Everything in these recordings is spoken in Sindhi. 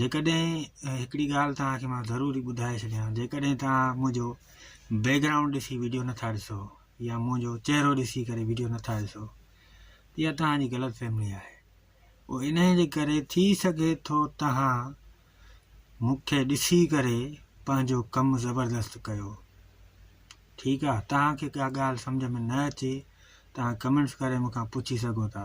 جيڪڏهن هڪڙي ڳالهه توهان کي مان ضروري ٻڌائي ڇڏيان جيڪڏهن توهان منهنجو بيڪ گرائونڊ ڏسي ويڊيو نٿا ڏسو يا منهنجو چهرو ڏسي ڪري ويڊيو نٿا ڏسو يا توهان جي غلط فهمي آهي او انهي جي ڪري ٿي سگهي ٿو توهان مون کي ڏسي ڪري پنهنجو ڪم زبردست ڪيو ٺيڪ آهي توهان کي ڪا ڳالهه سمجهه ۾ نه اچي توهان ڪمينٽس ڪري مون کان پڇي سگهو ٿا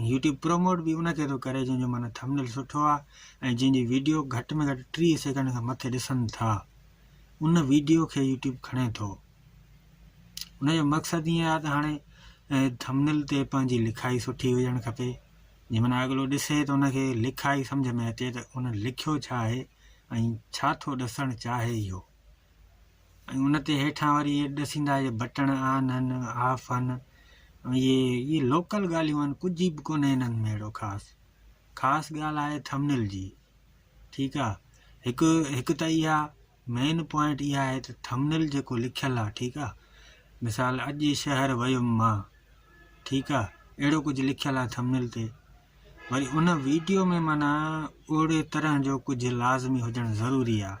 ۽ يوٽيوب پروموٽ به ان کي ٿو ڪري جنهن جو معنيٰ ٿمنيل سٺو آهي ۽ جنهن جي ويڊيو گهٽ ۾ گهٽ ٽيهه سيڪنڊ کان مٿي ڏسن ٿا ان ويڊيو کي يوٽيوب کڻي ٿو ان جو مقصد ائين آهي ته هاڻي ٿمنل تي پنهنجي لکائي سٺي هجڻ کپي جنهن معنی اڳلو ڏسي ته ان کي لکائي سمجھ ۾ اچي ته ان لکيو ڇا آهي ۽ ڇا ٿو ڏسڻ چاهي اهو ۽ ان تي هيٺان وري اهي ڏسيندا اهي بٽڻ آن آهن آف آهن اهي اهي لوڪل ڳالهيون آهن ڪجهه به ڪونهي هنن ۾ اهڙو خاص خاص ڳالهه آهي ٿمنل جي ٺيڪ آهي هڪ هڪ ته اها مين پوائنٽ اها آهي ته ٿمنل جيڪو لکيل آهي ٺيڪ آهي مثال اڄ شهر ويم مان ٺيڪ آهي اهڙو ڪجهه لکيل آهي ٿمنل تي وري ان ويڊيو ۾ معنيٰ اهڙي طرح جو ڪجهه لازمي هجڻ ضروري آهي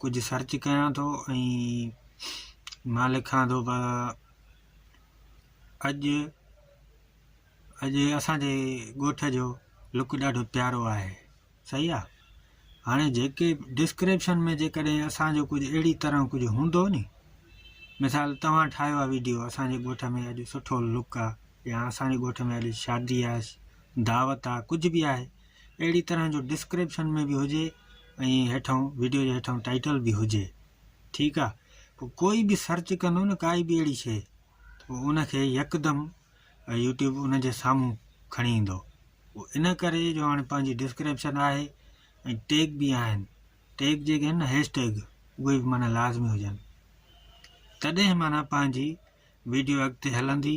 ڪجهه سرچ ڪيان ٿو ۽ مان لکان ٿو پر اڄ اڄ اسانجي ڳوٺ جو لڪ ڏاڍو پيارو آهي صحيح آ هاڻي جيڪي ڊسڪرپشن ۾ جيڪڏهن اسانجو ڪجهه اهڙي طرح ڪجهه هوندو ني مثال توهان ٺاهيو آ ويڊيو اسانجي ڳوٺ ۾ اڄ سٺو لڪ آ يا اسانجي ڳوٺ ۾ اڄ شادي آ دعوت آ ڪجهه به آهي اهڙي طرح جو ڊسڪرپشن ۾ به هجي ۽ هيٺئون ويڊيو جي هيٺئون ٽائيٽل به هجي ٺيڪ آ پو ڪوئي به سرچ ڪندو نه ڪائي به اهڙي شي پو ان کي يڪدم يوٽيوب ان جي سامهون کڻي ايندو پو ان ڪري جو هاڻي پنهنجي ڊسڪرپشن آهي ۽ ٽيگ به آهن ٽيگ جيڪي آهن نه هيش ٽيگ اهي به معنی لازمي هجن تڏهن معنی پنهنجي ويڊيو اڳتي هلندي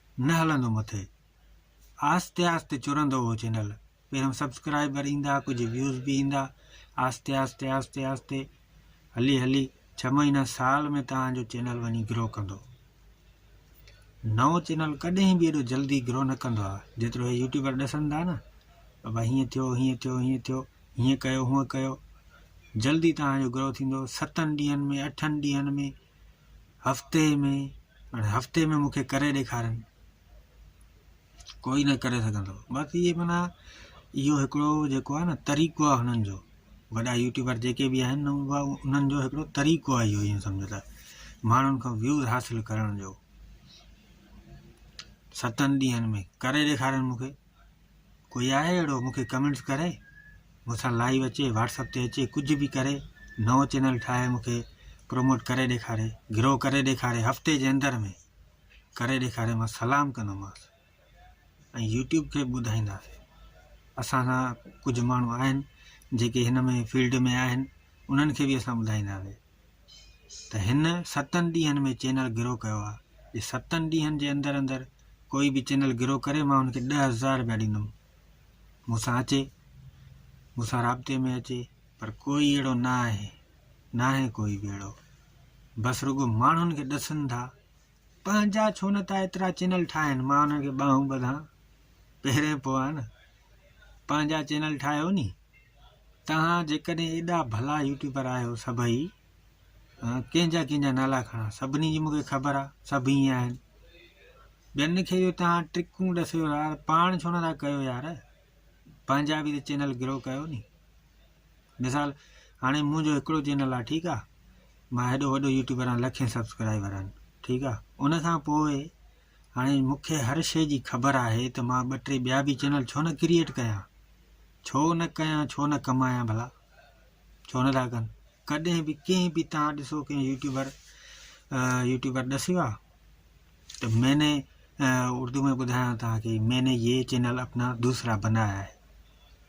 نه هلندو مٿي آهستي آهستي چرندو هو چينل پهريون سبسڪرائبر ايندا ڪجهه ويوز به ايندا آهستي آهستي آهستي آهستي هلي هلي ڇهه مهينا سال ۾ توهان جو چينل وڃي گرو ڪندو نئون چينل ڪڏهن به ايڏو جلدي گرو نه ڪندو آهي جيترو هي يوٽيوبر ڏسن ٿا نه بابا هيئن ٿيو هيئن ٿيو هيئن ٿيو هيئن ڪيو هونئن ڪيو جلدي توهان جو گرو ٿيندو ستن ڏينهن ۾ اٺن ڏينهن ۾ هفتي ۾ هاڻي هفتي ۾ مونکي ڪري ڏيکارين ڪوئي نه ڪري سگهندو باقي هي منا اهو هڪڙو جيڪو آهي نه طريقو آهي هنن جو وڏا يوٽيوبر جيڪي به آهن انهن جو هڪڙو طريقو آهي اهو ائين سمجهه ته ماڻهن کان ويوز حاصل ڪرڻ جو ستن ڏينهن ۾ ڪري ڏيکارين مونکي ڪوئي آهي اهڙو مون کي ڪمينٽس ڪري مون سان لائيو اچي واٽسپ تي اچي ڪجهه به ڪري نئون چينل ٺاهي مون کي پروموٽ ڪري ڏيکاري گرو ڪري ڏيکاري هفتي جي اندر ۾ ڪري ڏيکاري مان سلام ڪندومانس ۽ يوٽيوب کي به ٻڌائينداسي اسان سان ڪجهه ماڻهو آهن جيڪي هن ۾ فيلڊ ۾ آهن انهن کي به اسان ٻڌائينداسي ته هن ستن ڏينهن ۾ چينل گرو ڪيو آهي جي ستن ڏينهن جي اندر اندر ڪوئي به چينل گرو ڪري مان هن کي ڏه هزار روپيا ڏيندم مون سان اچي مون سان رابطي ۾ اچي پر ڪوئي اهڙو نه آهي ناهي ڪوئي به اهڙو بس رڳو ماڻهن کي ڏسن ٿا پنهنجا ڇو نه ٿا ايترا چينل ٺاهن مان انهن کي ٻانهون ٻڌان پهرين پوء ها نه پنهنجا چينل ٺاهيو ني توهان جيڪڏهن ايڏا ڀلا يوٽيوبر آهيو سڀئي ڪنهن جا ڪنهن جا نالا کڻا سڀني جي مونکي خبر آ سڀ ائين آهن ٻين کي جو توهان ٽرڪون ڏسيو يار پاڻ ڇو نه ٿا ڪيو يار پنهنجا به چينل گرو ڪيو ني مثال هاڻي مون جو هڪڙو چينل آ ٺيڪ آ مان هيڏو وڏو يوٽيوبر آهيان لکين سبسڪرائبر آهن ٺيڪ آ ان کان پوء هاڻي مون کي هر شي جي خبر آهي ته مان ٻه ٽي ٻيا به چينل ڇو نه ڪريئيٽ ڪيان ڇو نه ڪيان ڇو نه ڪمايان ڀلا ڇو نه ٿا ڪن ڪڏهن به ڪنهن به تان ڏسو ڪنهن يوٽيوبر يوٽيوبر ڏسيو آ ته مين اردو ۾ ٻڌايان تان کي مين يي چينل اپنا دوسرا بنايا آهي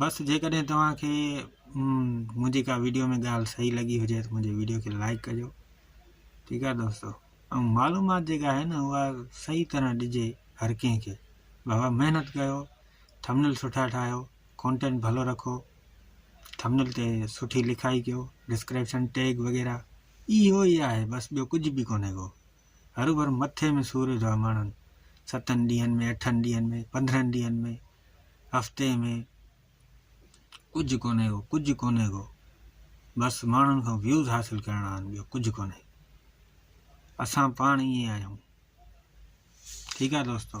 بس جيڪڏهن توهان کي منهنجي ڪا ويڊيو ۾ ڳالهه صحيح لڳي هجي ته منهنجي ويڊيو کي لائڪ ڪجو ٺيڪ آهي دوستو ۽ معلومات جيڪا آهي نه اها صحيح طرح ڏجي هر ڪنهن کي بابا محنت ڪيو ٿمنل سٺا ٺاهيو ڪانٽينٽ ڀلو رکو ٿمنل تي سٺي لکائي ڪيو ڊسڪرپشن ٽيگ وغيرہ اهو ئي آهي بس ٻيو ڪجهه به ڪونهي ڪو هر ڀر مٿي ۾ سور ويندو آهي ماڻهن ستن ڏينهن ۾ اٺن ڏينهن ۾ پندرهن ڏينهن ۾ هفتي ۾ ڪجهه ڪونهي ڪو ڪجهه ڪونهي ڪو بس ماڻهن کان ويوز حاصل ڪرڻا آهن ٻيو ڪجهه ڪونهي اسان پاڻ ائين آهيون ٺيڪ آهي دوستو